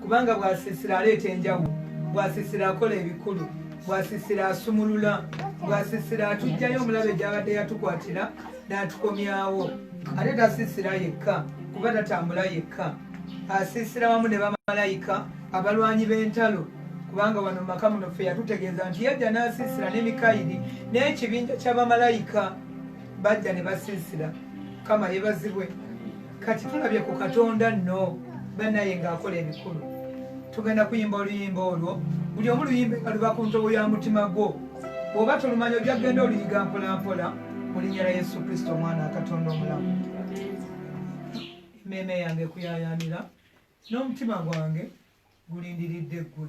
kubanga bwasisira aleeta enjawulo bwasisira akola ebikulu bwasisira asumulula bwasisira atugjayo omulabe gyabadde yatukwatira n'atukomyawo ate tasisira yekka kuba tatambula yekka asisira wamu ne bamalayika abalwanyi b'entalo kubanga wano mumaka muno ffe yatutegeeza nti yajja n'asisira ne mikayiri n'ekibinja ky'abamalayika bajja ne basisira kama yebazibwe kati tulabye ku katonda nno banaye ng'akola ebikulu tugenda kuyimba oluyimba olwo buli omu luyimba nga luba ku ntobo ya mutima gwo bw'oba tolumanya ojja kugenda oluyiga mpolampola mu linnya lya yesu kristo omwana akatonda omulamu emmeeme yange kuyayaanira n'omutima gwange gulindiridde ggwe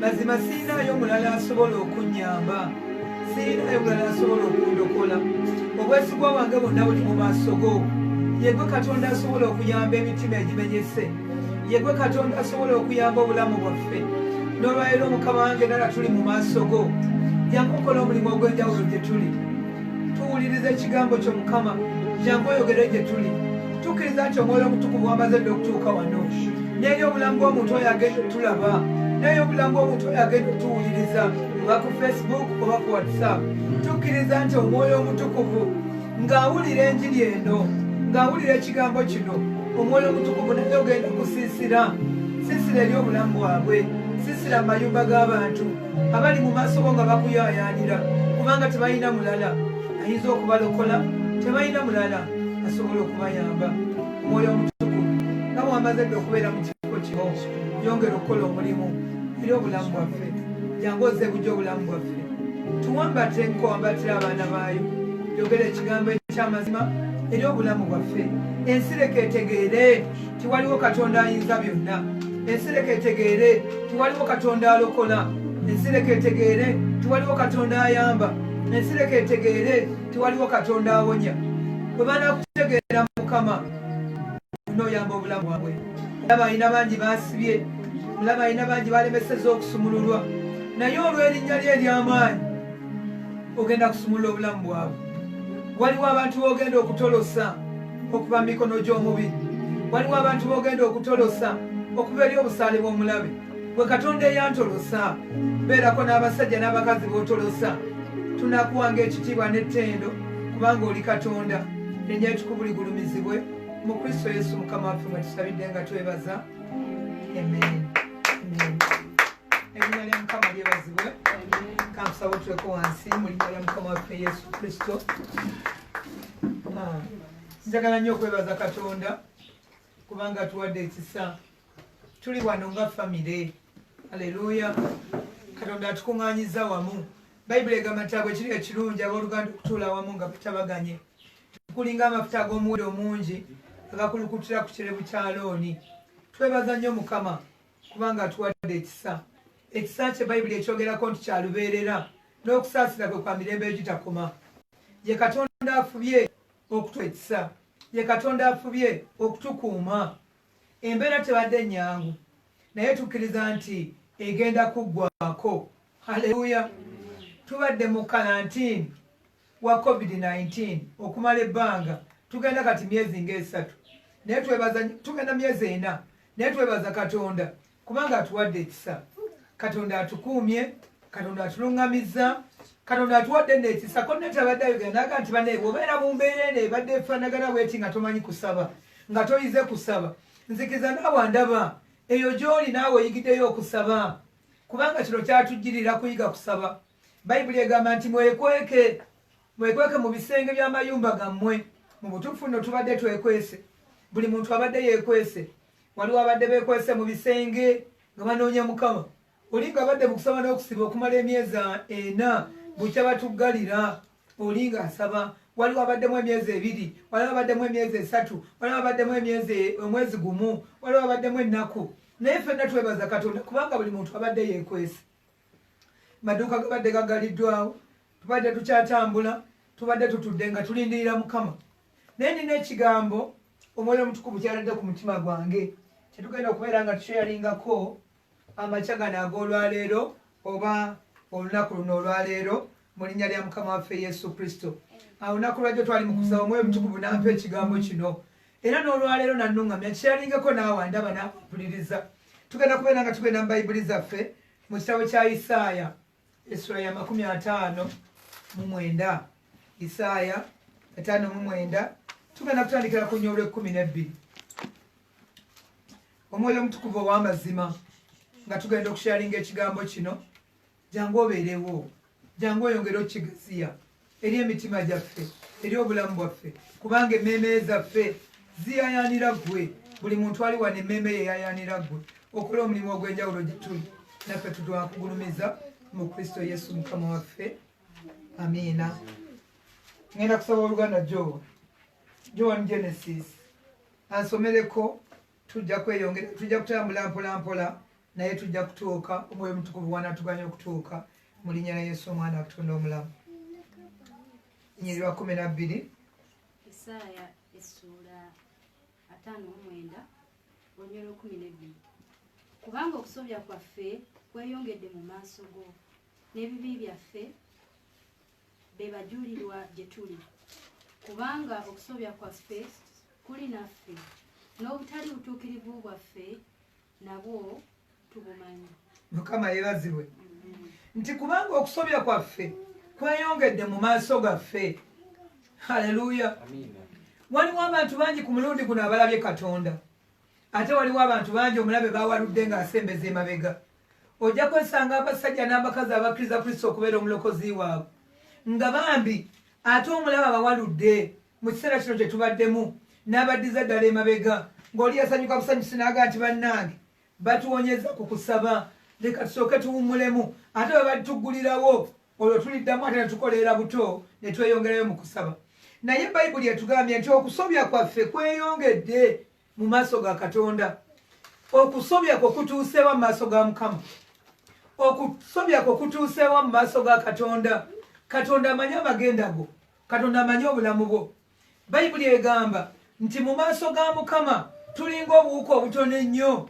mazima sirinayo mulala asobola okunyamba sirinayo mulala asobola okundokola obwesigwa wange bonna buli mu maaso go yegwe katonda asobola okuyamba emitima egimenyese yegwe katonda asobola okuyamba obulamu bwaffe n'olwaliro mukama wange nala tuli mu maaso go jangu okola omulimu ogw'enjawulo gye tuli tuwuliriza ekigambo kyo mukama jangu oyogere gye tuli tukkiriza nti omwoyo omutukuvu wamaze dde okutuuka wano n'eri obulamu bw'omuntu oyo agenda otulaba naye obulamu bw'omuntu oyo agenda otuwuliriza nga ku facebook oba ku whatsapp tukkiriza nti omwoyo omutukuvu ng'awulira enjiri eno ng'awulira ekigambo kino omwoyo omutukuvu naye ogenda kusiisira siisira eri obulamu bwabwe siisira amayumba g'abantu abali mu maaso go nga bakuyaayaanira kubanga tebalina mulala ayinza okubalokola tebalina mulala asobola okubayamba omwoyo omutuku nga bwamaze dde okubeera mu kifo kino yongera okukola omulimu era obulamu bwaffe jangu oze bujja obulamu bwaffe tuwambate nkowambatira abaana baayo yogera ekigambo ekyamazima eri obulamu bwaffe ensireka etegeere tiwaliwo katonda ayinza byonna ensireka etegeere tiwaliwo katonda alokola ensireka etegeere tiwaliwo katonda ayamba ensireka etegeere tiwaliwo katonda awonya bwe banakutegeera mukama noyamba obulamu bwabwe mulaba alina bangi basibye mulaba alina bangi balemeseza okusumululwa naye olw'erinnya lye ery'amaanyi ogenda kusumulula obulamu bwabwe waliwo abantu bogenda okutolosa okuva mu mikono gy'omubi waliwo abantu b'ogenda okutolosa okuva eri obusaale bw'omulabe bwe katonda eyantolosa beerako n'abasajja n'abakazi b'otolosa tunakuwanga ekitiibwa n'ettendo kubanga oli katonda nenya etukubu ligulumizibwe mu kristo yesu mukama waffe nga tusabidde nga twebaza amen erinnya lya mukama lyebazibwe kantusaba otuleko wansi mu linnya lya mukama waffe yesu kristo Ah, njagala nnyo okwebaza katonda kubanga tuwadde ekisa tuli wano nga famire aleluya katonda atukuŋŋanyiza wamu bayibuli egamba nti abwe kiri ekirungi abooluganda okutuula wamu nga batabaganye tukulinga amafuta ag'omuwuli omungi agakulukutira ku kirebu kya looni twebaza nnyo mukama kubanga atuwadde ekisa ekisa kye bayibuli ekyogerako nti kyalubeerera n'okusaasira kwe kwa mirembe egitakoma ye katonda afubye okutu ekisa ye katonda afubye okutukuuma embeera tebadde nnyangu naye tukkiriza nti egenda kuggwako haleluya tubadde mu kalantiini wa covid 19 okumala ebbanga tugenda kati myezi ng'esatu naye twebaza tugenda myezi ena naye twebaza katonda kubanga atuwadde ekisa katonda atukuumye katonda atuluŋŋamizza katonda atuwadde nekisa konetabadde ayogera naga nti bane obeera mu mbeera eno ebadde efanagana weti nga tomanyi kusaba nga toyize kusaba nzikiza naawe ndaba eyo gyoli naawe oyigiddeyo okusaba kubanga kino kyatujjirira kuyiga kusaba bayibuli egamba nti mwekweke mwekweke mu bisenge by'amayumba gammwe mu butuufu no tubadde twekwese buli muntu abadde yekwese waliwo abadde bekwese mu bisenge nga banoonya mukama oli nga abadde mukusaba n'okusiba okumala emyezi ena bukya batuggalira oli nga asaba waliwo abaddemu emyezi ebiri waliwo abaddemu emyezi esatu waliwo abaddemu emyezi omwezi gumu waliwo abaddemu ennaku naye fenna twebaza katonda kubanga buli muntu abadde yekwese maduuka gabadde gagaliddwawo tubadde tukyatambula tubadde tutudde nga tulindirira mukama naye nina ekigambo omwoyo omutukuvu kyaladde ku mutima gwange kyetugenda okubeera nga tukyeyalingako amakya gano ag'olwaleero oba olunaku luno olwaleero mu linnya lya mukama waffe yesu kristo olunaku lwajjo twali mukusaba omwoyo omutukuvu nampa ekigambo kino era n'olwaleero nanuŋamya kyeyalingako naawe ndaba nampuliriza tugenda kubeera nga tugenda mu bayibuli zaffe Mu kitabo kya Isaaya essula ya makumi ataano mu mwenda Isaaya ataano mu mwenda tugenda kutandikira ku nyolwa ekkumi n'ebbiri omwoyo omutukuvu ow'amazima nga tugenda okushalinga ekigambo kino jangu obeerewo Jangu oyongere okigaziya eri emitima gyaffe eri obulamu bwaffe kubanga emmeeme zaffe ziyayaanira ggwe buli muntu ali wano emmeeme ye yayaanira ggwe okola omulimu ogw'enjawulo gye tuli naffe tutwakugulumiza mu kristo yesu mukama waffe amiina ngenda kusaba oluganda jowa joan genesis ansomereko tujja kweyongera tujja kutambula mpolampola naye tujja kutuuka omwoyo omutukuvu wanatuganya okutuuka mu linnya la yesu omwana akutonda omulamu nyiri lwa kumi nabbiri isaaya essuula ataano omwenda olunya lwekumi nebbiri kubanga okusobya kwaffe kweyongedde mu maaso go n'ebibi byaffe be bajulirwa gye tuli, kubanga okusobya kwaffe kuli naffe, n'obutali butuukirivu bwaffe nabwo tubumanyi. Mukama yeebazibwe nti kubanga okusobya kwaffe kweyongedde mu maaso gaffe. Haleluya! Waliwo abantu bangi ku mulundi guno abalabye Katonda, ate waliwo abantu bangi omulabe bawaludde ng'asembeza emabega. ojja kwesanga abasajja n'abakazi abakkiriza kristo okubeera omulokozi waabwe nga bambi ate omulaba abawaludde mu kiseera kino kye tubaddemu n'abaddiza ddala emabega ng'oli yasanyuka busanyusi naaga nti bannange batuwonyeza ku kusaba leka tusooke tuwummulemu ate bwe balituggulirawo olwo tuliddamu ate ne tukoleera buto ne tweyongerayo mu kusaba naye bayibuli etugambye nti okusobya kwaffe kweyongedde mu maaso ga katonda okusobya kwo kutuuseewa mu maaso ga mukama okusobya kwo kutuuseewa mu maaso ga katonda katonda amanyi amagenda go katonda amanyi obulamu bwo bayibuli egamba nti mu maaso ga mukama tulinga obuwuka obutono ennyo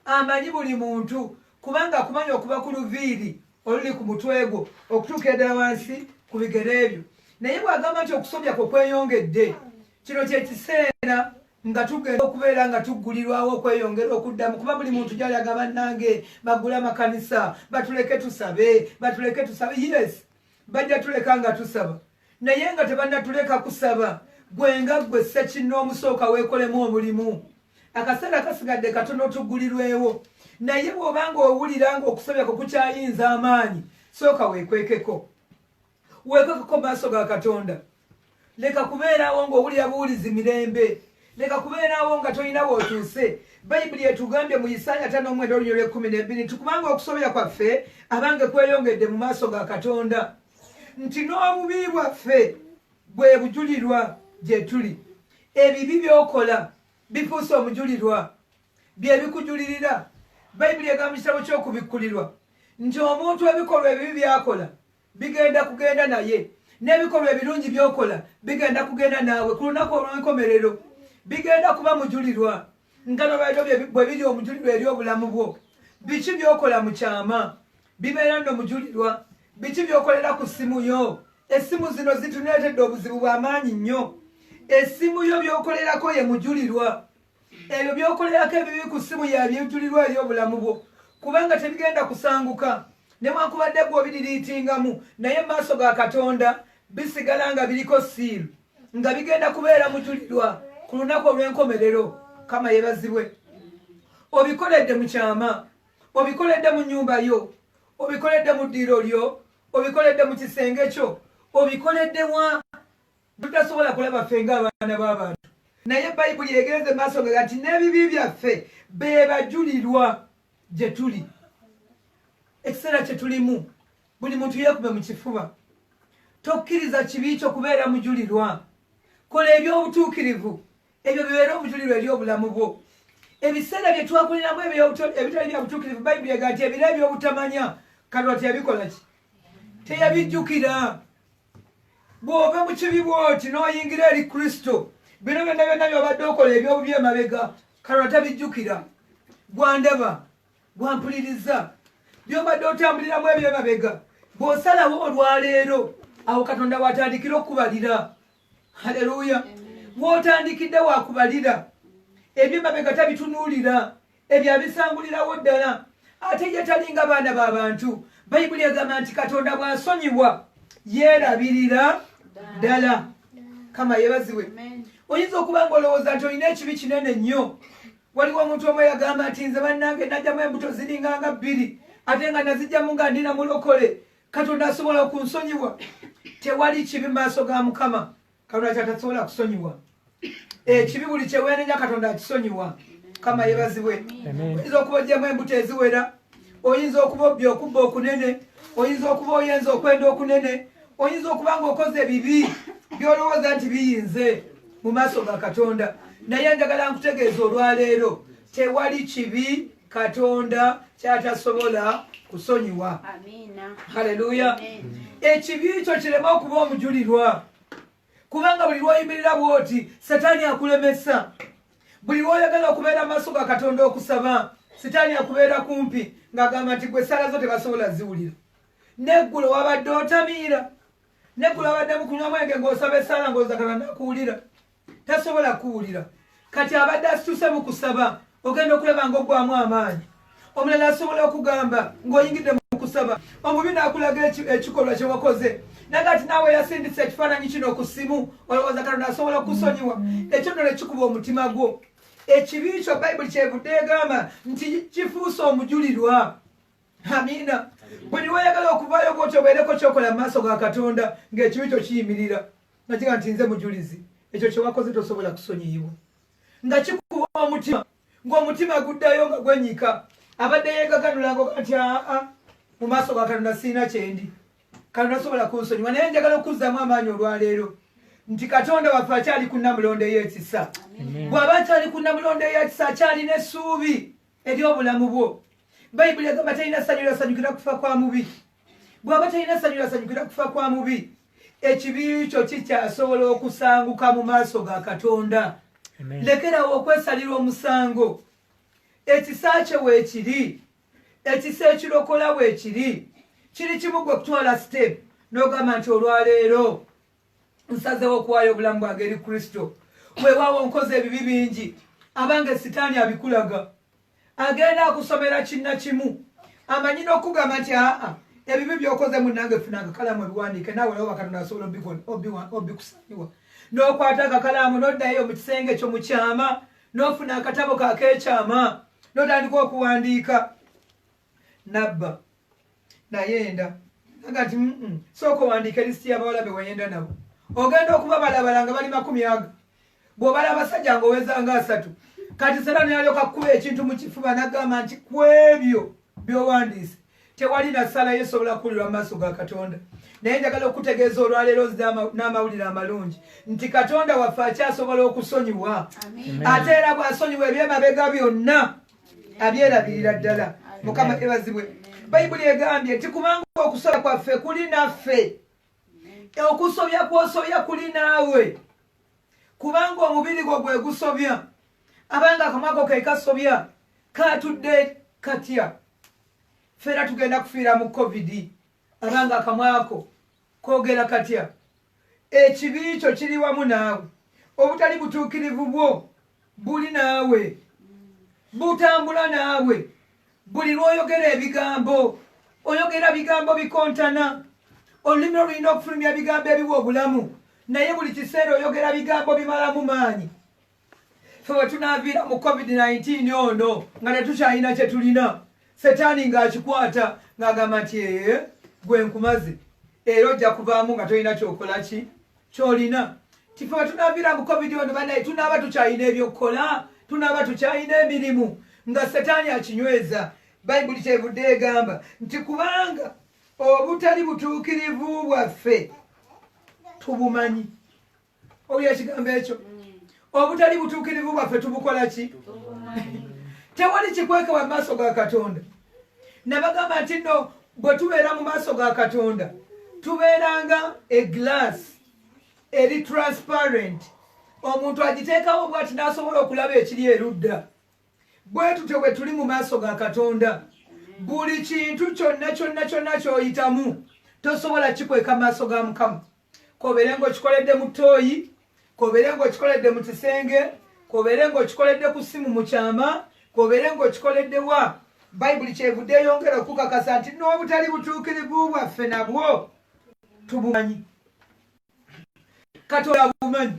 amanyi buli muntu kubanga akumanya okuba ku luviiri oluli ku mutwe gwo okutuuka eddala wansi ku bigere ebyo naye bw'agamba nti okusobya kwo kweyongedde kino kyekiseera nga tugenda okubeera nga tuggulirwawo okweyongera okuddamu kuba buli muntu gyalaga bannange baggule amakanisa batuleke tusabe batuleke tusabe yes bajja tuleka nga tusaba naye nga tebannatuleka kusaba gwe nga ggwe sekinna omusooka weekolemu omulimu akaseera kasigadde katono tuggulirwewo naye bw'oba nga owulira nga okusabyako kukyayinza amaanyi sooka weekwekeko wekwekako maaso ga katonda leka kubeeraawo ngaowulira buwulizi mirembe leka kubeeraawo nga tolina wotuuse bayibuli etugambye mu isaaya ta n'omwenda olunyo lw'ekkumi n'ebbiri nti kubanga okusobera kwaffe abange kweyongedde mu maaso ga katonda nti n'obubi bwaffe bwe bujulirwa gye tuli ebibi by'okola bifuuse omujulirwa bye bikujulirira bayibuli egamba mu kitabo ky'okubikkulirwa nti omuntu ebikolwa ebibi by'akola bigenda kugenda naye n'ebikolwa ebirungi byokola bigenda kugenda naawe ku lunaku olw'enkomerero bigenda kuba mujulirwa nga nolwaliro bwe biri omujulirwa eri obulamu bwo biki byokola mu kyama bibeera nno mujulirwa biki byokolera ku ssimu yo essimu zino zituneetedde obuzibu bw'amaanyi nnyo essimu yo byokolerako ye mujulirwa ebyo byokolerako ebibi ku ssimu yabyentulirwa eri obulamu bwo kubanga tebigenda kusanguka newankubadde gwe obiririitingamu naye maaso ga katonda bisigala nga biriko siiru nga bigenda kubeera mujulirwa ku lunaku olw'enkomerero kama yebazibwe obikoledde mu kyama obikoledde mu nyumba yo obikoledde mu ddiiro lyo obikoledde mu kisenge kyo obikoledde wa Tutasobola kulaba ffe ng'abaana b'abantu, naye Bayibuli egenze maaso nga nti n'ebibi byaffe be bajulirwa gye tuli. Ekiseera kye tulimu, buli muntu yeekube mu kifuba. Tokkiriza kibi kyo kubeera mujulirwa. Kola eby'obutuukirivu, ebyo bibeere obujulirwa eri obulamu bwo. Ebiseera bye twakoleramu ebitali bya butuukirivu, Bayibuli ega nti ebiro eby'obutamanya, kalwati yabikola ki? Teyabijjukira. bw'ova mu kibi bw'oti n'oyingira eri kristo bino byonna byonna byobadde okola ebyobubi emabega kalwa tabijjukira gwandaba gwampuliriza byobadde otambuliramu ebyo emabega bw'osalawo olwaleero awo katonda watandikira okubalira haleluya wotandikidde wakubalira ebyo emabega tabitunuulira ebyo abisangulirawo ddala ate ye talinga baana ba bantu bayibuli egamba nti katonda bw'asonyiwa yeerabirira ddala kama yebaziwe oyinza okuba nga olowooza nti olina ekibi kinene nnyo waliwo omuntu omu yagamba nti nze bannange najjamu embuto ziringa nga bbiri ate nga nazijjamu nga ndina mulokole katonda asobola okunsonyiwa tewali kibi maaso ga mukama katonda kyatasobola kusonyiwa ekibi buli kyewenenya katonda akisonyiwa kama yebazibwe oyinza okuba ojemu embuto eziwera oyinza okuba obbi okubba okunene oyinza okuba oyenza okwenda okunene oyinza okuba nga okoze bibi byolowooza nti biyinze mu maaso ga katonda naye njagala nkutegeeza olwaleero tewali kibi katonda kyatasobola kusonyiwa haleluya ekibi kyo kireme okuba omujulirwa kubanga buli lwoyimirira bwoti setaani akulemesa buli lwoyagala okubeera maaso ga katonda okusaba sitaani akubeera kumpi ng'agamba nti gwe sala zo tebasobola ziwulira neggulo wabadde otamiira neggulo wabadde mukunywa mwenge ng'osaba esaala ng'oza katonda akuwulira tasobola kuwulira kati abadde asituse mu kusaba ogenda okulaba nga ogwamu amaanyi omulala asobola okugamba ng'oyingidde mu kusaba omubi n'akulaga ekikolwa kye wakoze naga ti naawe yasindisa ekifaananyi kino ku ssimu olowooza katonda asobola okusonyiwa ekyo nno nekikuba omutima gwo ekibi kyo bayibuli kyevudde egamba nti kifuuse omujulirwa amiina buli weyagala okuvaayo bwotyo obeereko kyokola mu maaso ga katonda ng'ekibi kyo kiyimirira nga kiga nti nze mujulizi ekyo kyewakoze tosobola kusonyiyibwa nga kikuba omutima ng'omutima guddayo nga gwenyika abadde yegaganulanga oga nti aa mu maaso ga katonda siina kyendi katonda sobola kunsonyiwa naye njagala okuzzamu amaanyi olwaleero nti katonda waffe akyali ku namulondo ey'ekisa bw'aba akyali ku namulondo ey'ekisa akyalina essuubi eri obulamu bwo bayibuli egamba talina ssanyu lasanyukira kufa kwa mubi bwaba talina ssanyu lasanyukira kufa kwa mubi ekibi kyo kikyasobola okusanguka mu maaso ga katonda lekerawo okwesalira omusango ekisa kye weekiri ekisa ekirokola weekiri kiri kimu gwe okutwala sitepu n'ogamba nti olwaleero nsazewo okuwaayo obulamu bwange eri kristo weewaawo nkoze ebibi bingi abange sitaani abikulaga agenda akusomera kinna kimu amanyi n'okugamba nti aa ebibi byokoze munange funa akakalaamu ebiwandiike naawe lawo bakatonda asobola obikusanyiwa n'okwata akakalaamu n'oddayo mu kisenge ekyo mu kyama n'ofuna akatabo kakeekyama n'otandika okuwandiika nabba nayenda agati sooka owandiika elisiti y'abawala be wayenda nabo ogenda okuba balabala nga bali makumi aga bw'obala abasajja nga oweza nga asatu kati sera neyalyoka kukuba ekintu mu kifuba nagamba nti ku ebyo by'owandiise tewali na ssala ye esobola kuwulirwa mu maaso ga katonda naye njagala okutegeeza olwaleero n'amawulire amalungi nti katonda waffe akyasobola okusonyiwa ate era bw'asonyiwa ebyemabega byonna abyerabirira ddala mukama ebazibwe bayibuli egambye nti kubanga okusobola kwaffe kuli naffe okusobya kwosobya kuli naawe kubanga omubiri gwo gwe gusobya abanga akamwako ke kasobya katudde katya feera tugenda kufiira mu covid abanga akamwako Kogera katya, ekibi kyo kiri wamu naawe, obutali butuukirivu bwo buli naawe, butambula naawe. Buli lw'oyogera ebigambo, oyogera bigambo bikontana. Olulimi olulina okufulumya ebigambo ebiwa obulamu, naye buli kiseera oyogera bigambo bimalamu maanyi. fe wetunaviira mu covid-19 ono nga tetukyalina kyetulina setaani ng'akikwata ng'agamba nti ee gwe nkumaze era ojja kuvaamu nga tolina kyokola ki kyolina tife wetunaviira mu covid ono banaye tunaaba tukyalina ebyokukola tunaaba tukyalina emirimu nga setaani akinyweza bayibuli kyevudde egamba nti kubanga obutali butuukirivu bwaffe tubumanyi owulira ekigambo ekyo mm. obutali butuukirivu bwaffe tubukola ki tewali kikweke wa maaso ga katonda nabagamba nti no bwe tubeera mu maaso ga katonda tubeeranga eglass eri transparent omuntu agiteekawo bwati n'asobola okulaba ekiri erudda bwe tutyo bwe tuli mu maaso ga katonda buli kintu kyonna kyonna kyonna kyoyitamu tosobola kikweka maaso ga mukama kobeere ng'okikoledde mu ttooyi kobeere ng'okikoledde mu kisenge kobeere ng'okikoledde ku ssimu mu kyama kobeere ng'okikoledde wa bayibuli kyevudde eyongera okukakasa nti n'obutali butuukirivu bwaffe nabwo tubumanyi katonda abumanyi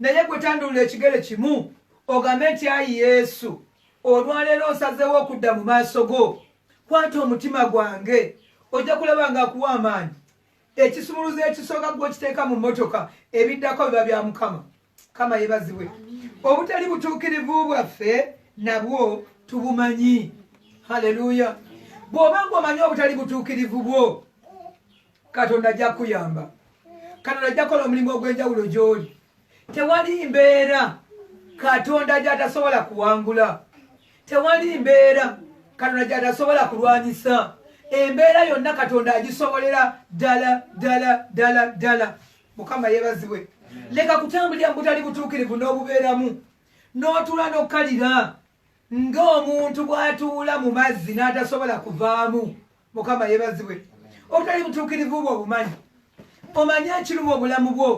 Naye gwe tandulula ekigere kimu ogambe nti ayi Yesu olwaleero nsazeewo okudda mu maaso go kwata omutima gwange ojja kulaba nga akuwa amaanyi ekisumuluzo ekisooka gwekiteeka mu mmotoka ebiddako biba bya mukama kama yebazibwe obutali butuukirivu bwaffe nabwo tubumanyi haleluya bw'oba nga omanyi obutali butuukirivu bwo katonda ajja kuyamba katonda ajja kola omulimu ogw'enjawulo gy'oli tewali mbeera katonda gy'atasobola kuwangula tewali mbeera katonda gy'atasobola kulwanyisa embeera yonna katonda agisobolera ddala ddala ddala ddala mukama yebaziwe leka kutambulira mubutali butuukirivu n'obubeeramu n'otuula n'okukalira ng'omuntu bw'atuula mu mazzi n'atasobola kuvaamu mukama yebazibwe obutali butuukirivu bwo obumanyi omanyi ekiruma obulamu bwo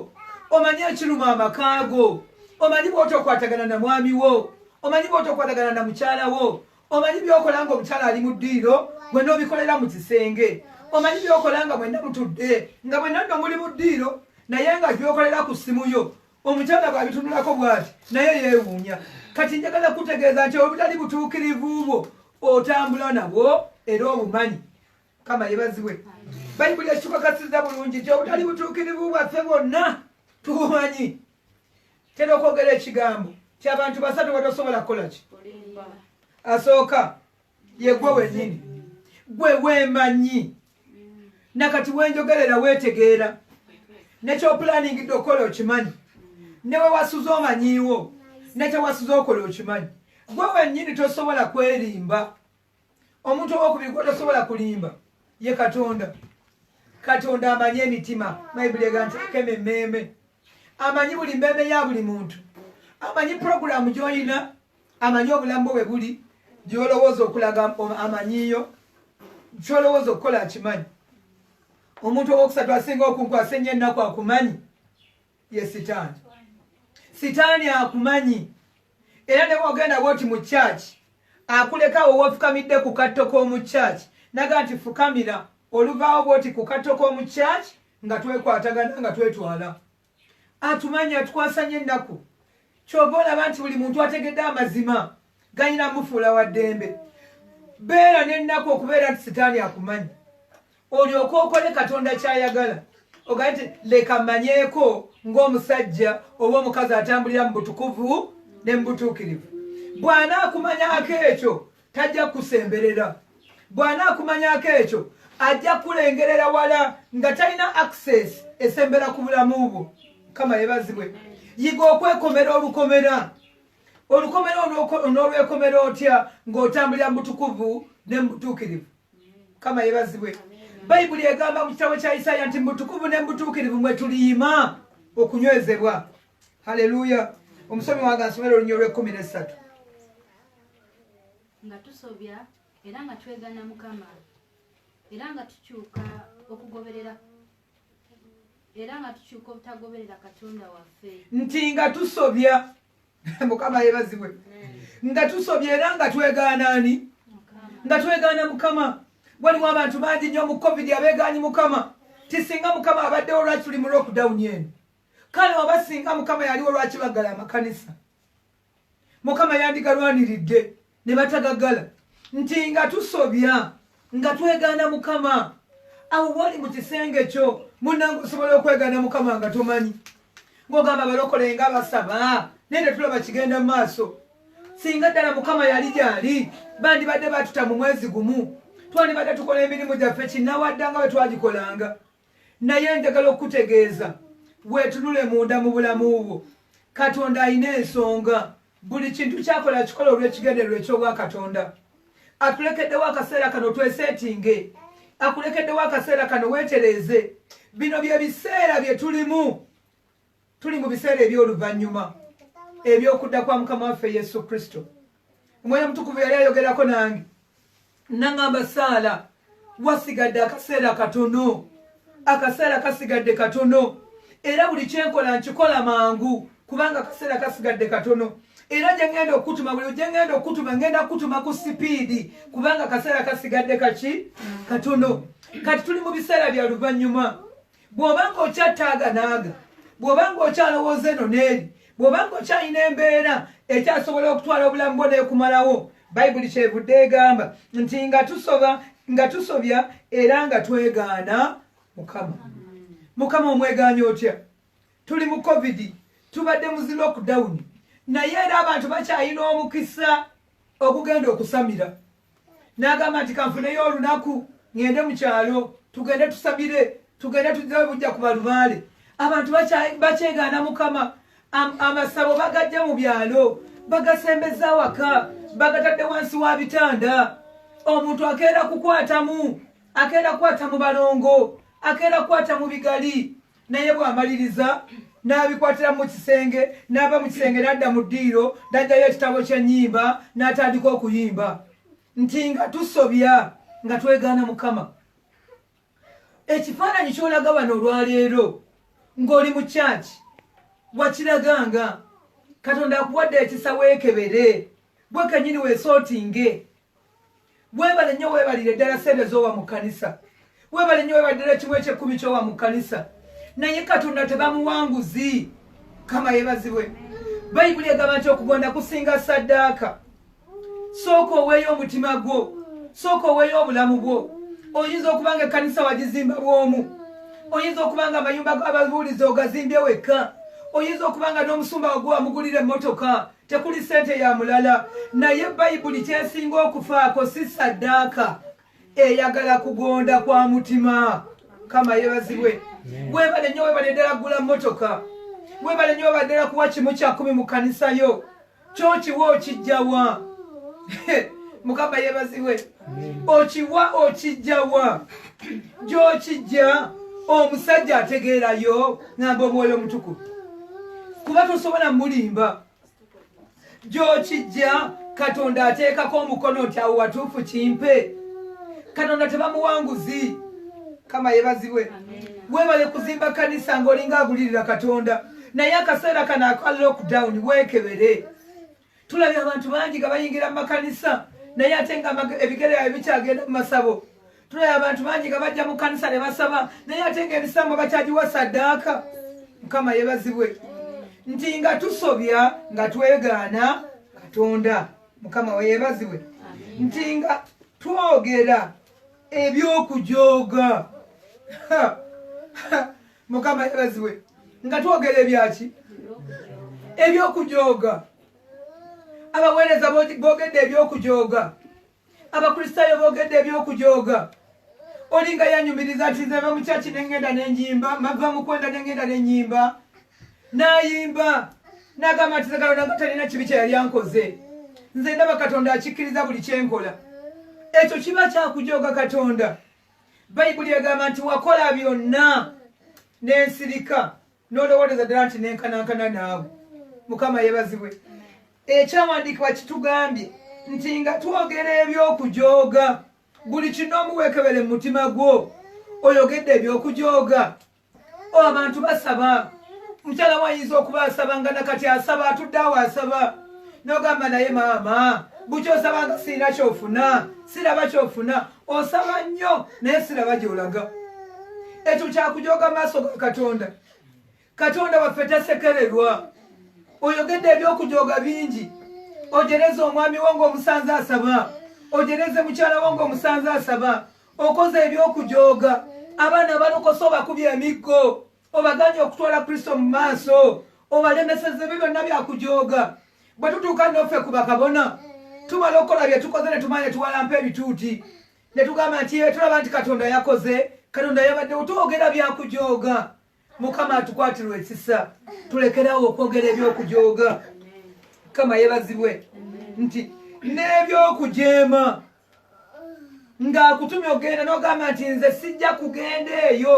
omanyi ekiruma amaka go omanyi bwotokwatagana na mwami wo omanyi bwotokwatagana na mukyala wo omanyi byokola nga omukyala ali mu ddiiro gwe nobikolera mu kisenge omanyi byokola nga mwenna mutudde nga mwenna nno muli mu ddiiro naye nga byokolera ku ssimu yo omukyala bwabitunulako bwati naye yewuunya kati njagala kutegeeza nti obutali butuukirivu bwo otambula nabwo era obumanyi kama yebazibwe bayibuli ekikukakasiza bulungi nti obutali butuukirivu bwaffe bwonna tubumanyi tera okwogera ekigambo ti abantu basatu batosobola kukola ki asooka yegwe wenyini gwe wemanyi nakati wenjogerera wetegeera nekyoplaningidde okukola okimanyi newewasuza omanyiiwo nekyewasuza okola okimanyi gwe wenyini tosobola kwerimba omuntu owokubiri gwe tosobola kulimba ye katonda katonda amanyi emitima bayibuli ega nti akema emmeeme amanyi buli mmeeme ya buli muntu amanyi puroguramu gyolina amanyi obulamu bwo webuli byolowooza okulaga amanyiyo kyolowooza okukola akimanyi omuntu owokusatu asinga okunkwasa ennyo ennaku akumanyi ye sitaani sitaani akumanyi era ne bwogenda bwoti mu kyaki akulekawo wofukamidde ku katto k'omu kyaki naga nti fukamira oluvaawo bwoti ku katto k'omu kyaki nga twekwatagana nga twetwala atumanyi atukwasa nyo ennaku kyova olaba nti buli muntu ategedde amazima galina mufuula wa ddembe beera n'ennaku okubeera nti sitaani akumanyi olyoka okole katonda kyayagala ogaa nti leka mmanyeeko ng'omusajja oba omukazi atambulira mu butukuvu ne mu butuukirivu bw'anaakumanyaako ekyo tajja kukusemberera bw'anaakumanyako ekyo ajja kukulengerera wala nga talina access esembera ku bulamu bwo kama yebazibwe yiga okwekomera olukomera olukomera onolwekomera otya ng'otambulira mu butukuvu ne mu butuukirivu kama yebazibwe bayibuli egamba mu kitabo kya isaaya nti mubutukuvu ne mu butuukirivu mwe tuliyima okunywezebwa haleluya omusomi wange asomera olunya olw'ekkumi n'essatu nga tusobya era nga twegana mukama era nga tukyuka okugoberera era nga tukyuka obutagoberera katonda waffe nti nga tusobya mukama yebazibwe nga tusobya era nga twegaana ani nga twegaana mukama waliwo abantu bangi nyo mu covid abegaanyi mukama tisinga mukama abaddewo lwaki tuli mu lockdown eno kale oba singa mukama yaliwo lwaki baggala amakanisa mukama yandigalwaniridde ne batagagala nti nga tusobya nga twegaana mukama awo wali mu kisenge kyo munange osobola okwegaana mukama nga tomanyi ngaogamba balokole nga basaba naye tetulaba kigenda mu maaso singa ddala mukama yali gyali bandibadde batuta mu mwezi gumu twandibadde tukola emirimu gyaffe kinawaddanga bwe twagikolanga Naye njagala okukutegeeza, weetunule munda mu bulamu bwo. Katonda alina ensonga. Buli kintu ky'akola akikola olw'ekigendererwa eky'Obwakatonda. Atulekeddewo akaseera kano tweseetinge. Akulekeddewo akaseera kano weetereeze. Bino bye biseera bye tulimu. tuli mu biseera eby'oluvannyuma eby'okudda kwa mukama waffe yesu kristo omwoyo omutukuvu yali ayogerako nange nangamba saala wasigadde akaseera katono akaseera kasigadde katono era buli kyenkola nkikola mangu kubanga akaseera kasigadde katono era gyengenda okukutuma buli gyengenda okukutuma ngenda kukutuma ku sipiidi kubanga akaseera kasigadde kaki katono kati tuli mu biseera bya luvannyuma bw'oba ng'okyattaaganaaga bw'oba ng'okyalowooza eno n'eri bw'oba ng'okyalina embeera ekyasobola okutwala obulamu bwo n'ekumalawo bayibuli kyevudde egamba nti nga tusoba nga tusobya era nga twegaana mukama mukama omwegaanya otya tuli mu covid tubadde muzi lockdown naye era abantu bakyalina omukisa okugenda okusamira n'agamba nti kanfuneyo olunaku ŋŋende mu kyalo tugende tusabire tugende tuzewe bujja ku balubaale abantu bakyegaana mukama amasabo bagajja mu byalo bagasembeza awaka bagatadde wansi wa bitanda omuntu akeera kukwatamu akeera kukwata mu balongo akeera kukwata mu bigali naye bw'amaliriza n'abikwatira mu kisenge n'ava mu kisenge n'adda mu ddiiro n'ajjayo ekitabo ky'ennyimba n'atandika okuyimba nti nga tusobya nga twegaana mukama ekifaananyi ky'olaga bano olwaleero ng'oli mu kyaki wakiraganga katonda akuwadde ekisa weekebere gwe kenyini weesootinge webale nnyo webalire ddala sente zowa mu kkanisa webale nnyo webale ddala ekimu ekyekkumi kyowa mu kkanisa naye katonda tebamuwanguzi kama yebazibwe bayibuli egamba nti okugonda kusinga saddaaka sooka oweeyo omutima gwo sooka oweeyo obulamu bwo oyinza okuba nga ekkanisa wagizimba bwomu oyinza okuba nga amayumba ababuulizi ogazimbye wekka oyinza okuba nga n'omusumba wagwe wamugulira emmotoka tekuli sente ya mulala naye bayibuli kyesinga okufaako si saddaaka eyagala kugonda kwa mutima kama yebazibwe webale nyo webale ddala gula motoka webale nyo webale ddala kuwa kimu kyakumi mu kanisa yo kyokiwa okijjawa mukama yebazibwe okiwa okijjawa gyokijja omusajja ategeerayo namba omwoyo omutukuvu kuba tosobola mulimba gyokijja katonda ateekako omukono nti awo watuufu kimpe katonda tebamuwanguzi kama yebazibwe webale kuzimba kanisa ngaolinga agulirira katonda naye akaseera kano aka lockdown wekebere tulabye abantu bangi nga bayingira mu makanisa naye ate nga ebigere yabwe bikyagenda mu masabo tulabye abantu bangi nga bajja mu kanisa ne basaba naye ate nga ebisambo bakyagiwa saddaaka mukama yebazibwe nti nga tusobya nga twegaana katonda mukama weyebazibwe nti nga twogera ebyokujooga mukama yebaziwe nga twogera ebyaki ebyokujooga abaweereza bogedde ebyokujooga abakristaayo bogedde ebyokujooga olinga yanyumiriza nti nzeva mukyaki nengenda nenyimba mava mukwenda nengenda nenyimba nayimba nagamba nti zagalona nga talina kibi kyeyali ankoze nze ndaba katonda akikkiriza buli kyenkola ekyo kiba kyakujooga katonda bayibuli egamba nti wakola byonna nensirika nolowooleza ddala nti nenkanankana naawe mukama yebazibwe ekyawandiikibwa kitugambye nti nga twogera ebyokujooga buli kinomu wekebere mumutima gwo oyogedde ebyokujooga abantu basaba mukyala wayinza okuba asaba nga nakati asaba atudde awo asaba nogamba naye maama bukya osabanga sirina kyofuna siraba kyofuna osaba nnyo naye siraba gyolaga ekyo kyakujoga maaso ga katonda katonda waffe tasekererwa oyogedde ebyokujoga bingi ojereze omwami wo ngaomusanze asaba ojereze mukyala wo ngaomusanze asaba okoze eby'okujooga abaana abalokosa obakubye emiggo obaganye okutwala kristo mu maaso obalemeseza ebyo byonna byakujooga bwe tutuuka noffe ku bakabona tumala okukola bye tukoze ne tumanya tuwalampa ebituuti ne tugamba nti etulaba nti katonda yakoze katonda yabaddewo twogera byakujooga mukama atukwatirwa ekisa tulekerawo okwogera ebyokujooga mukama yebazibwe nti n'ebyokujeema ng'akutumye okugenda n'ogamba nti nze sijja kugenda eyo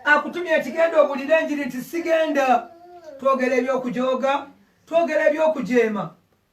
akutumye ekigenda obulira enjiri nti sigenda twogera ebyokujooga twogera ebyokujeema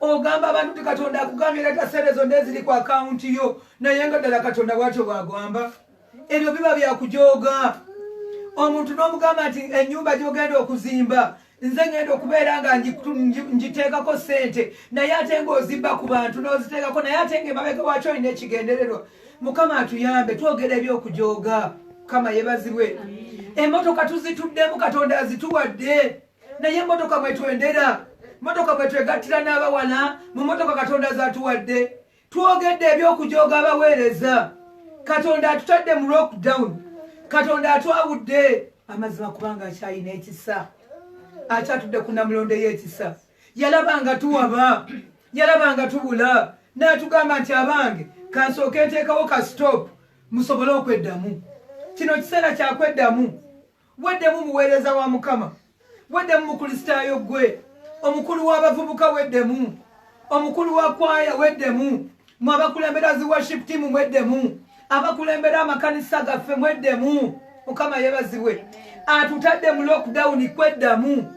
ogamba abantu ti katonda akugambye leta sente zonna eziri ku akawunti yo naye nga ddala katonda bwatyo bwagamba ebyo biba byakujooga omuntu n'omugamba nti ennyumba gyogenda okuzimba nze ngenda okubeera nga ngiteekako sente naye ate ngaozimba ku bantu n'oziteekako naye ate nga emabega wakyo olina ekigendererwa mukama atuyambe twogera ebyokujooga mukama yebazibwe emotoka tuzituddemu katonda azituwadde naye emotoka mwetwendera motoka mwetwegattira n'abawana mu motoka katonda zatuwadde twogedde ebyokujooga abaweereza katonda atutadde mu lockdown katonda atwawudde amazima kubanga akyalina ekisa akyatudde ku namulondo y'ekisa yalaba nga tuwaba yalaba nga tubula n'atugamba nti abange kansooka enteekawo ka stop musobole okweddamu kino kiseera kyakweddamu Weddemu muweereza wa Mukama. Weddemu Mukristaayo ggwe. Omukulu w'abavubuka weddemu. Omukulu wa kwaya weddemu. Mwe abakulembera zi worship team mweddemu. Abakulembera amakanisa gaffe mweddemu. Mukama yebazibwe. Atutadde mu lockdown kweddamu.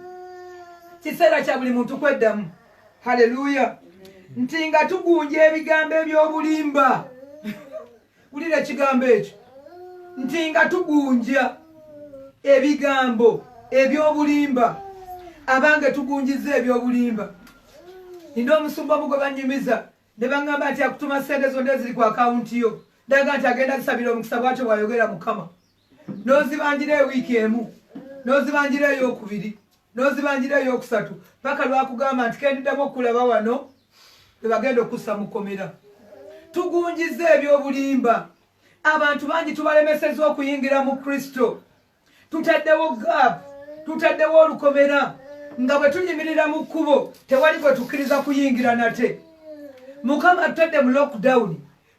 Kiseera kya buli muntu kweddamu. Hallelujah. nti nga tugunja ebigambo eby'obulimba wulira ekigambo ekyo nti nga tugunja ebigambo ebyobulimba abange tugunjiza ebyobulimba nina omusumba omu gwe banyumiza ne baŋŋamba nti akutuma ssente zonna eziri ku akawunti yo daga nti agenda zisabira omukisa bwatyo bwayogera mukama n'ozibanjira ewiiki emu n'ozibanjira eyokubiri n'ozibanjira eyokusatu paka lwakugamba nti kendiddamu okukulaba wano ebagenda okussa mu kkomera tugunjiza ebyobulimba abantu bangi tubalemeseza okuyingira mu kristo tutaddewo gap tutaddewo olukomera nga bwe tuyimirira mu kkubo tewali gwe tukkiriza kuyingira nate mukama tutadde mu lockdown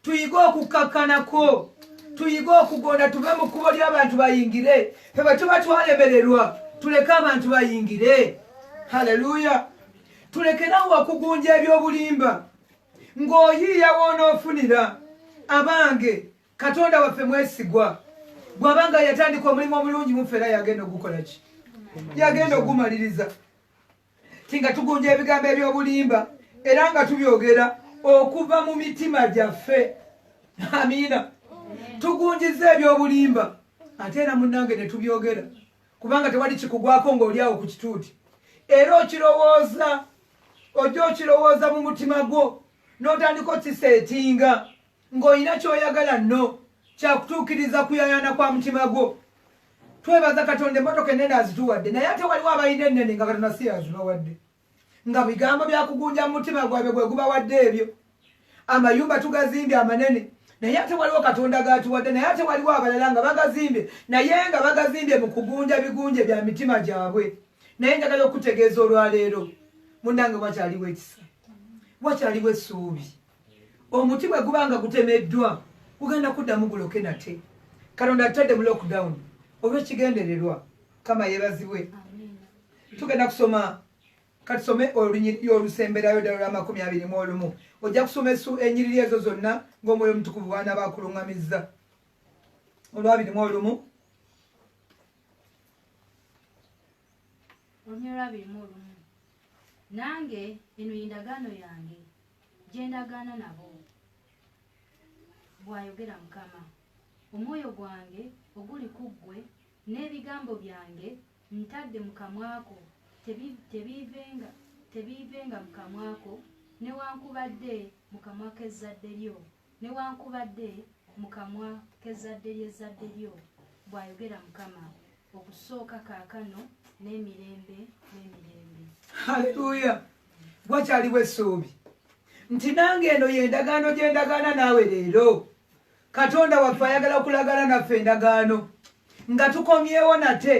tuyige okukkakkanako tuyige okugonda tuve mu kkubo ly'abantu bayingire fe bwe tuba twalemererwa tuleke abantu bayingire haleluya tulekerawo okugunja eby'obulimba ng'oyiiya woonoofunira abange katonda waffe mwesigwa bw'aba nga yatandika omulimu omulungi muffe era yagenda okugukola ki yagenda ogumaliriza ti nga tugunja ebigambo eby'obulimba era nga tubyogera okuva mu mitima gyaffe amiina tugunjiza eby'obulimba ate era munnange ne tubyogera kubanga tewali kikugwako ng'oli awo ku kituuti era okirowooza ojja okirowooza mu mutima gwo n'otandika okiseetinga ng'olina ky'oyagala nno kyakutuukiriza kuyayaana kwa mutima gwo twebaza katonda emmotoka ennene azituwadde naye ate waliwo abalina ennene nga katonda si azibawadde nga bigambo byakugunja mu mutima gwabwe gwe gubawadde ebyo amayumba tugazimbye amanene naye ate waliwo katonda gatuwadde naye ate waliwo abalala nga bagazimbye naye nga bagazimbye mu kugunja bigunje bya mitima gyabwe naye njagala okutegeeza olwaleero munange wakyaliwo ekisa wakyaliwo essuubi omuti bwe guba nga gutemeddwa gugenda kuddamu guloke nate katonda atadde mu lockdown olw'ekigendererwa kama yebazibwe tugenda kusoma katusome olunyiriri olusemberayo ddala lw'amakumi abiri mu olumu ojja kusoma esu enyiriri ezo zonna ng'omwoyo omutukuvu bwana baakuluŋŋamizza olwabiri mu olumu olunyi olwabiri mu olumu nange eno yendagaano yange gye ndagaana nabo, bw'ayogera Mukama. Omwoyo gwange oguli ku ggwe, n'ebigambo byange ntadde mu kamwa ko, tebiivenga tebiivenga mu kamwa ko, newankubadde mu kamwa k'ezzadde lyo. Newankubadde mu kamwa k'ezzadde ly'ezzadde lyo, bw'ayogera Mukama, okusooka kaakano n'emirembe n'emirembe. Haleluya! Wakyaliwo essuubi nti nange eno y'endagaano gye ndagaana naawe leero. Katonda waffe ayagala okulagana naffe endagaano nga tukomyewo nate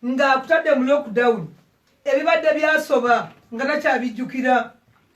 ng'akutadde mu lockdown ebibadde byasoba nga takyabijjukira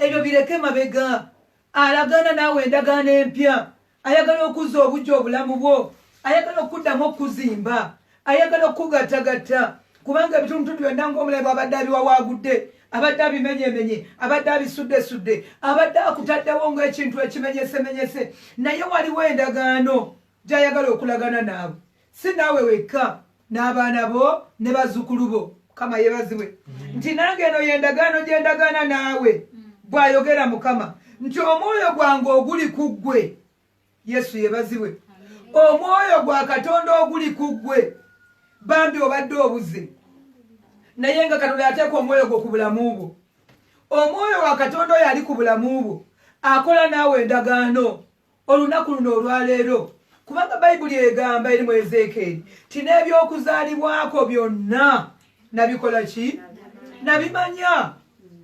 ebyo bireke mabega Alagaana naawe endagaano empya. Ayagala okuzza obuggya obulamu bwo. Ayagala okukuddamu okukuzimba. Ayagala okukugattagatta. Kubanga ebitundutundu byonna ng'omulabe bw'abadde abiwawaagudde, abadde abimenyemenye, abadde abisuddesudde, abadde akutaddewo ng'ekintu ekimenyesemenyese, naye waliwo endagaano gy'ayagala okulagana naawe. si naawe wekka n'abaana bo ne bazzukulu bo mukama yebazibwe mm. nti nange eno yendagaano gye ndagaana naawe mm. bw'ayogera mukama nti omwoyo gwange oguli ku ggwe yesu yebazibwe omwoyo gwa katonda oguli ku ggwe bambi obadde obuze naye nga katonda yateeka omwoyo gwo ku bulamu bwo omwoyo wa katonda oyo ali ku bulamu bwo akola naawe endagaano olunaku luno olwaleero kubanga bayibuli egamba eri mu ezeekeeri ti n'ebyokuzaalibwako byonna nabikola ki nabimanya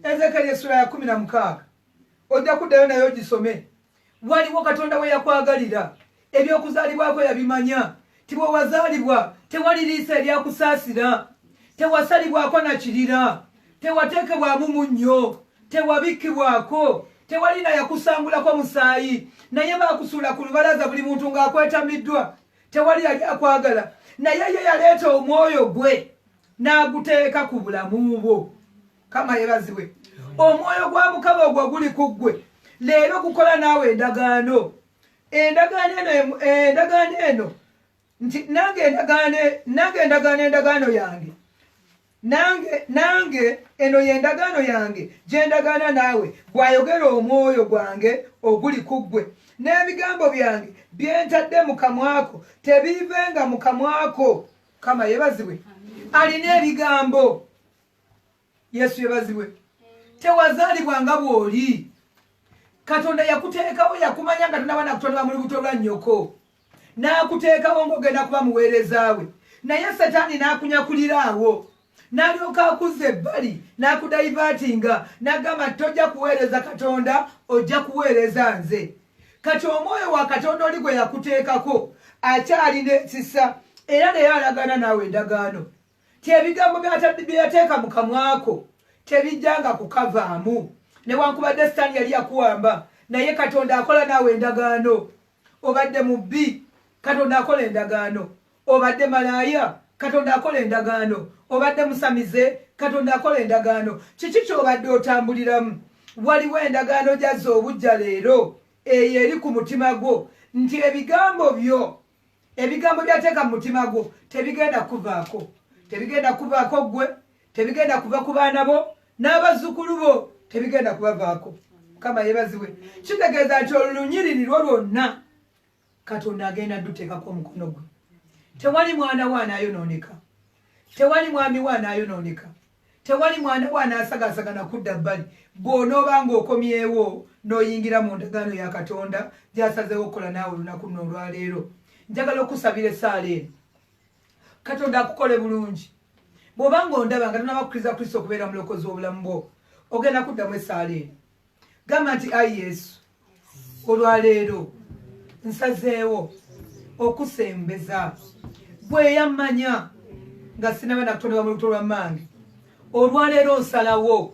ezeekeeri essula ya kumi na mukaaga ojja kuddayo naye ogisome waliwo katonda we yakwagalira ebyokuzaalibwako yabimanya ti bwe wazaalibwa tewali liisa eryakusaasira tewasalibwako na kirira tewateekebwamu munnyo tewabikkibwako tewali na yakusangulako musaayi naye baakusuula ku lubalaza buli muntu ng'akwetamiddwa tewali yali akwagala naye ye yaleeta omwoyo gwe n'aguteeka ku bulamu bwo kama yebazibwe omwoyo gwa mukama ogwo guli ku ggwe leero gukola naawe endagaano endagaano eno endagaano eno nti nange endagaano nange endagaano endagaano yange nange nange eno y'endagaano yange gyendagaana naawe bw'ayogera omwoyo gwange oguli ku ggwe n'ebigambo byange byentadde mu kamwako tebiivenga mu kamwako kama yebazibwe alina ebigambo yesu yebazibwe tewazalibwa nga bwoli katonda yakuteekawo yakumanya nga tonaba nakutonda bamuli buto lwa nyoko n'akuteekawo ng'ogenda kuba muweereza we naye setaani n'akunyakulira awo n'alyoka akuzza ebbali n'akudayivaatinga n'agamba tojja kuweereza katonda ojja kuweereza nze kati omwoyo wa katonda oli gwe yakuteekako akyalina ekisa era naye alagaana naawe endagaano ti ebigambo bye yateeka mu kamwako tebijjanga kukavaamu newankubadde sitaani yali yakuwamba naye katonda akola naawe endagaano obadde mu bbi katonda akola endagaano obadde malaaya katonda akola endagaano obadde musamize katonda akola endagaano kiki kyobadde otambuliramu waliwo endagaano gyazza obujja leero eyo eri ku mutima gwo nti ebigambo byo ebigambo byateeka mu mutima gwo tebigenda kuvaako tebigenda kuvaako ggwe tebigenda kuva ku baana bo n'abazzukulu bo tebigenda kubavaako mukama yebaziwe kitegeeza nti olunyiriri lwo lwonna katonda agenda duteekako omukono gwe tewali mwana wo anaayonooneka tewali mwami wo anaayonooneka Tewali mwana wo anaasagaasanga na kudda bbali bw'onooba ng'okomyewo n'oyingira mu ndagaano ya Katonda gy'asazeewo okukola naawe olunaku luno olwaleero. Njagala okukusabira essaala eno. Katonda akukole bulungi. Bw'oba ng'ondaba nga tonaba kukkiriza Kristo okubeera mulokozi w'obulamu bwo, ogenda kuddamu essaala eno. gamba nti ayi yesu olwaleero nsazeewo okusembeza bweyamanya nga sinaba nakutonebwa mu lubuto lwa maange olwaleero nsalawo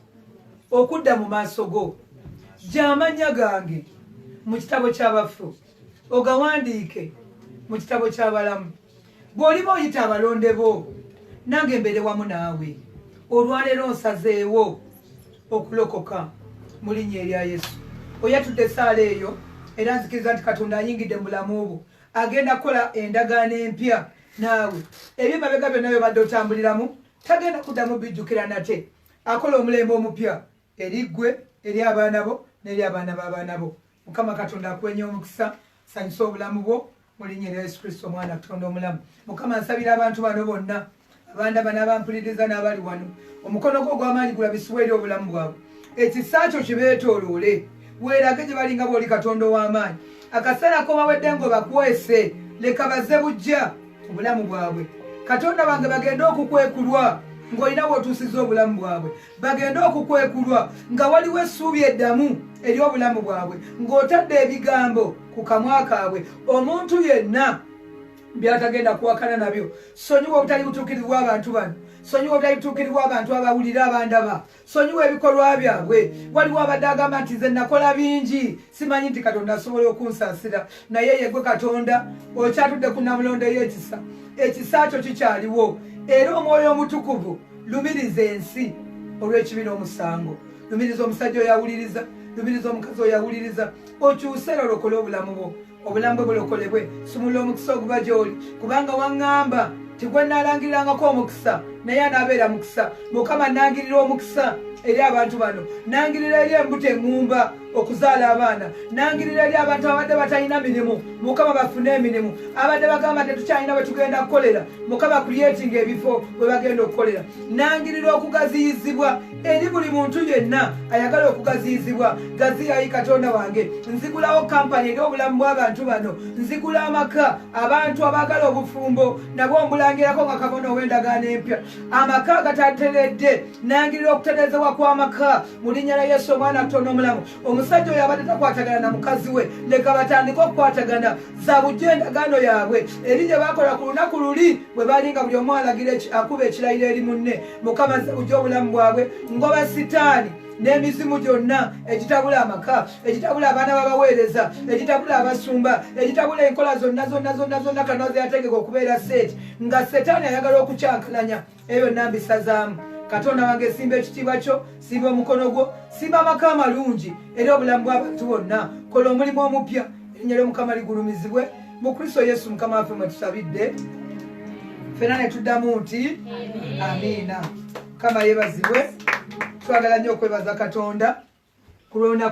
okudda mu maaso go gyamanya gange mu kitabo ky'abafu ogawandiike mu kitabo ky'abalamu bw'oliba oyita abalonde bo nange mbeere wamu naawe olwaleero nsazeewo okulokoka mu linnya erya yesu oyatudde esaala eyo era nzikiriza nti katonda ayingidde mu bulamu bwo agenda kukola endagaano empya naawe ebyo mabega byonna byobadde otambuliramu tagenda kuddamu bijjukira nate akola omulembe omupya eri ggwe eri abaana bo n'eri abaana b'abaana bo mukama katonda akuwenye omukisa sanyusa obulamu bwo mulinya erya yesu kristo omwana katonda omulamu mukama nsabira abantu bano bonna abandaba n'abampuliriza n'abali wano omukono gwo ogw'amaanyi gulabisibwa eri obulamu bwabwe ekisa kyo kibeetooloole weerage gye balinga bw'oli katonda ow'amaanyi akaseera kobawedde ng'obakwese leka baze bujja obulamu bwabwe katonda bange bagende okukwekulwa ng'olina bw'otuusiza obulamu bwabwe bagende okukwekulwa nga waliwo essuubi eddamu eri obulamu bwabwe ng'otadde ebigambo ku kamwa kaabwe omuntu yenna byatagenda kuwakana nabyo sonyiwa obutali butuukirivu bw'abantu bano sonyiwa obutali butuukirivu bw'abantu abawulira abandaba sonyiwa ebikolwa byabwe waliwo abadde agamba nti nze nakola bingi simanyi nti katonda asobola okunsasira naye yegwe katonda okyatudde ku namulondo eyekisa ekisa kyo kikyaliwo era omwoyo omutukuvu lumiriza ensi olw'ekibi n'omusango lumiriza omusajja oyawuliriza lumiriza omukazi oyawuliriza okyuse era olokole obulamu bwo obulamu bwe bulokolebwe sumula omukisa oguba gy'oli kubanga waŋŋamba tigwe nalangirirangako omukisa naye anaabeera mukisa mukama nangirira omukisa eri abantu bano nangirira eri embuto eŋŋumba okuzaala abaana nangirira eri abantu abadde batalina mirimu mukama bafune emirimu abadde bagamba tetukyalina bwetugenda kukolera mukama kuyetinga ebifo bwebagenda okukolera nangirira okugaziyizibwa eri buli muntu yenna ayagala okugaziyizibwa gaziyayi katonda wange nzigulawo kampani eri obulamu bw'abantu bano nzigula amaka abantu abagala obufumbo nabwo mbulangirako nga kabona ow'endagaano empya amaka agatateredde nangirira okutereezewa kw'amaka mu linnya lya yesu omwana atono omulamu omusajja oyo abadde takwatagana na mukazi we leka batandike okukwatagana za bujjo endagaano yaabwe eri gye bakola ku lunaku luli bwe bali nga buli omu alagira akuba ekirayiro eri munne mukama za bujjo obulamu bwabwe ngoba sitaani n'emizimu gyonna egitabula amaka egitabula abaana babaweereza egitabula abasumba egitabula enkola zonna zonna zonna zonna kanaze yategeka okubeera seeti nga setaani ayagala okukyankalanya eyo nambisazaamu katonda wange simba ekitiibwa kyo simba omukono gwo simba amaka amalungi era obulamu bw'abantu bonna kola omulimu omupya erinnya ly'omukama ligulumizibwe mu kristo yesu mukama waffe mwe tusabidde fena ne tuddamu nti amiina mukama yebazibwe twagala nnyo okwebaza katonda ku lwonaku